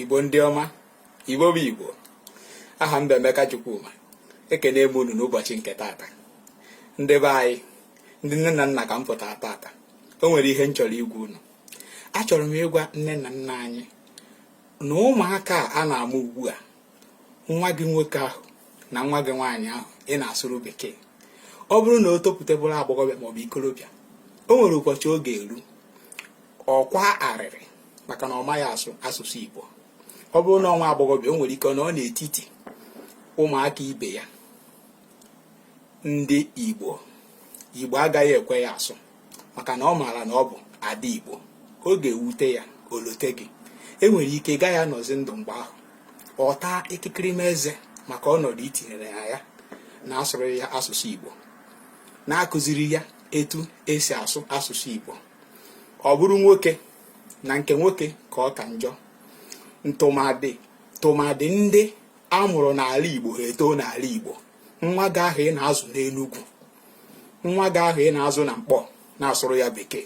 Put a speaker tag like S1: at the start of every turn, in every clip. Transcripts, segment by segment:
S1: igbo ndị ọma igbo bụ igbo aha m bụ emeka chukwuma ekene m unu n'ụbọchị nke tata ndị be anyị ndị nne na nna ka m pụtara tata o nwere ihe m chọrọ ịgwa unu achọrọ m ịgwa nne na nna anyị na ụmụaka a na-amụ ugbu a nwa gị nwoke ahụ na nwa gị nwaanyị ahụ ị na-asụrụ bekee ọ bụrụ na o topụta bụrụ agbọghọbịa maọbụ ikolobịa o nwere ụbọchị ọ ga-eru ọ kwaa arịrị maka na ọ maghị asụ asụsụ Igbo ọ bụrụ na ọ nwa agbọghọbịa o nwere ike nọ n'etiti ụmụaka ibe ya ndị Igbo Igbo agaghị ekwe ya asụ maka na ọ maara na ọ bụ ada igbo ọ ga-ewute ya o lote gị e nwere ike ị gaghị anọzi ndụ mgbe ahụ ọ taa ikikiri eze maka ọnọdụ i tinyere ya ya na-asụrụ ya asụsụ igbo na-akụziri ya etu esi asụ asụsụ igbo ọ bụrụ nwoke na nke nwoke ka ọ ka njọ ntụmadị tụmadị ndị a mụrụ n'ala igbo ha etoo n'ala igbo nwa gị ahụ ị na-azụ n'Enugwu nwa gị ahụ ị na-azụ na Nkpọ na-asụrụ ya bekee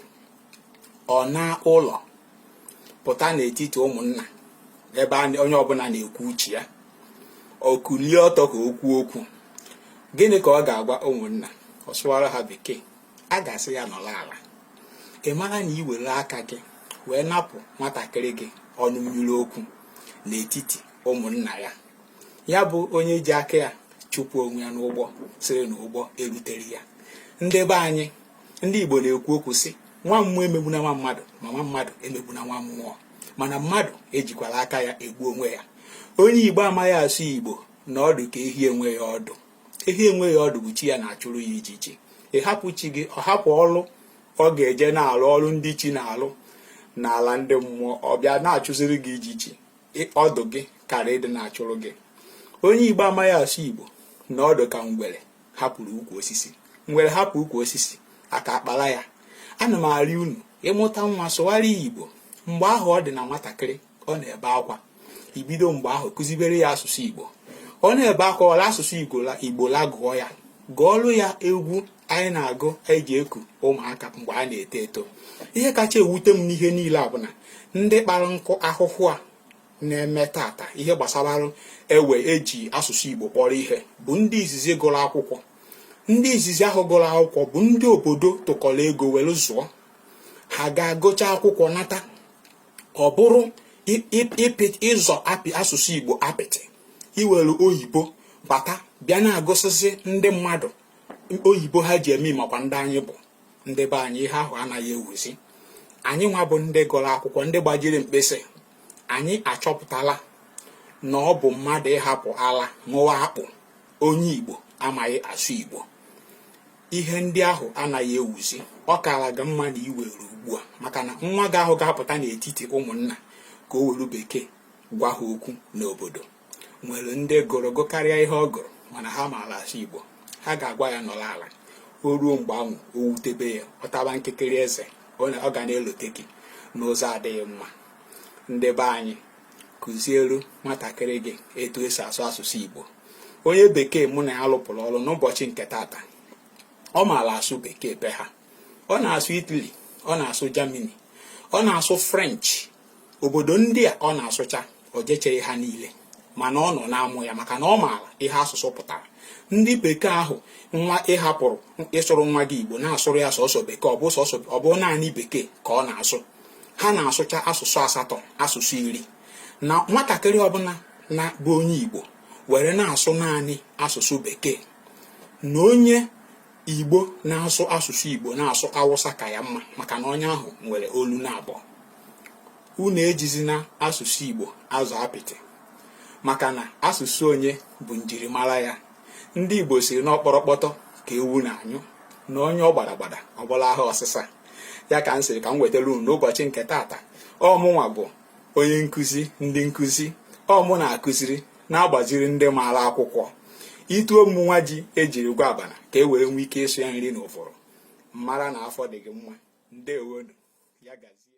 S1: ọ naa ụlọ pụta n'etiti ụmụnna ebe onye ọbụla na-ekwu uche ya ọ kulie ọtọ ka o kwuo okwu gịnị ka ọ ga-agwa ụmụnna ọ sụwara ha bekee a ga-asị ya nọlụ ala ị mara na i were aka gị wee napụ nwatakịrị gị ọnụ mmiri okwu n'etiti ụmụnna ya ya bụ onye ji aka ya chụpụ onwe ya n'ụgbọ sịrị na ụgbọ eruterọ ya ndị be anyị ndị Igbo na-ekwu okwu sị nwa mmụọ emegbuna nwa mmadụ ma nwa mmadụ emegbuna nwa mmụọ mana mmadụ ejikwala aka ya egbu onwe ya onye Igbo amaghị asụ Igbo na ọ dị ka ehi enweghị ọdụ ehi enweghị ọdụ bụ chi ya na-achụrụ ya ijiji ị hapụ chi gị ọ hapụ ọlụ ọ ga-eje na-alụ ọrụ ndị chi na-alụ n'ala ndị mmụọ ọ bịa na-achụziri gị ijiji ọdụ gị kara ịdị na-achụrụ gị onye igbo amaghị asụ igbo na ọ dị ka ngwere hapụrụ ukwu osisi ngwere hapụ ukwu osisi aka akpara ya ana m arịọ unu ị mụta nwa sụwara ya igbo mgbe ahụ ọ dị na nwatakịrị ọ na-ebe akwa i bido mgbe ahụ kụzibere ya asụsụ igbo ọ na-ebe akwa wolu asụsụ igbo lagụọ ya gụọlụ ya egwu anyị na-agụ anyị ji eku ụmụaka mgbe a na-eto eto ihe kacha ewute m n'ihe niile a bụ na ndị kpara nkụ ahụhụ a na-eme tata ihe gbasara ewe eji asụsụ Igbo kpọrọ ihe bụ ndị izizi gụrụ akwụkwọ ndị izizi ahụ gụrụ akwụkwọ bụ ndị obodo tụkọrọ ego were zụọ ha ga-agụcha akwụkwọ nata ọ bụrụ ịzọ apị asụsụ Igbo apịtị iwere oyibo bata bịa na-agụsịsị ndị mmadụ oyibo ha ji eme makwa ndị anyị bụ ndị be anyị ihe ahụ anaghị ewuzi anyị nwa bụ ndị gụrụ akwụkwọ ndị gbajiri mkpịsị anyị achọpụtala na ọ bụ mmadụ ịhapụ ala ṅụwa akpụ onye igbo amaghị asụ igbo ihe ndị ahụ anaghị ewuzi ọ kaara gị mma na i were ugbu a maka na nwa gị ahụ ga-apụta n'etiti ụmụnna ka o were bekee gwa ha okwu n'obodo nwere ndị gụrụ gụkarịa ihe ọ gụrụ mana ha maara asụ Igbo ha ga-agwa ya nọrọ ala o ruo mgbe ahụ o wutebe ya ọ taba nkikiri eze ọ ga na-elote gị n'ụzọ adịghị mma ndị be anyị kụzielu nwatakịrị gị etu esi asụ asụsụ Igbo onye bekee mụ na ya lụpụrụ ọrụ n'ụbọchị nke taata ọ maara asụ bekee be ha ọ na-asụ Italy ọ na-asụ Germany ọ na-asụ French obodo ndị a ọ na-asụcha o jechaghị ha niile mana ọ nọ na-amụ ya maka na ọ maara ihe asụsụ pụtara ndị bekee ahụ nwa ị hapụrụ ịsụrụ nwa gị igbo na-asụrụ ya sọsọ bekee ọ bụ naanị bekee ka ọ na-asụ ha na-asụcha asụsụ asatọ asụsụ iri na nwatakịrị ọbụna bụ onye igbo were na-asụ naanị asụsụ bekee na onye igbo na-asụ asụsụ igbo na-asụ awụsa ka ya mma maka na onye ahụ nwere olu naabọ unu ejizina asụsụ igbo azọ apịtị maka na asụsụ onye bụ njirimara ya ndị igbo sịrị na ọ kpọrọkpọtọ ka ewu na-anyụ na ọ nyụọ gbada gbada ọ bụrụ ahọ ọsịsa ya ka m sịrị ka m wetara unu n'ụbọchị nke taata ọ mụnwa bụ onye nkụzi ndị nkụzi ọ mụ na-akụziri na-agbaziri ndị maara akwụkwọ itu ọ mụnwa ji e jiri gwa abana ka e wee nwee ike ịsụ ya nri na ụfọrọ mara na afọ dị gị mma ndewonu ya gazie